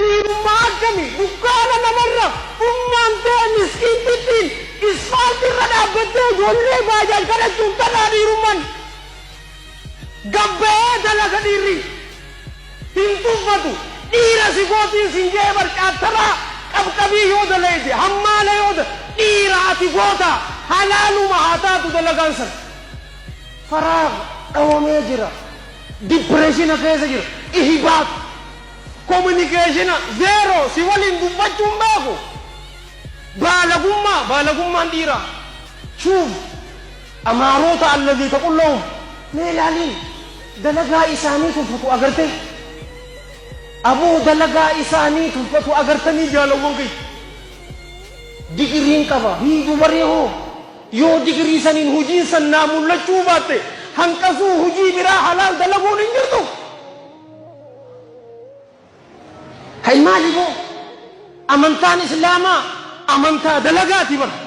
Diinummaa akkamii? Dukkaana namarra ummaan tee miskiintittiin isfaalti irra dhaabbattee ijoollee baajaaj kadhachuuf tanaa dhiirumman? Gad bahee dalaga dhiirri hin tuffatu. Dhiira si gootiin sin ja'ee bar caattanaa qabqabii yoo dalayde hammaala yoo da dhiira ati gootaa halaaluma haa taatu dalagaan san. Faraagh dhawamee jira. Dippireeshina keessa jira. Ihibaat. Kominikeeshina zeeroo si waliin dubbachuu hin beeku baalagummaa baalagummaan dhiiraa Shuuf amaaroota allazii taqullahum mee ilaali dalagaa isaanii tuffatu agartee aboo dalagaa isaanii tuffatu agartanii jaalawwan kiyya digiriin qaba hin dubaree hoo yoo digirii saniin hujiin san naa mullachuu baatte hanqasuu hujii biraa halaal dalaguun hin jirtu. Hay maali boo amantaan islaamaa amantaa dalagaati bar.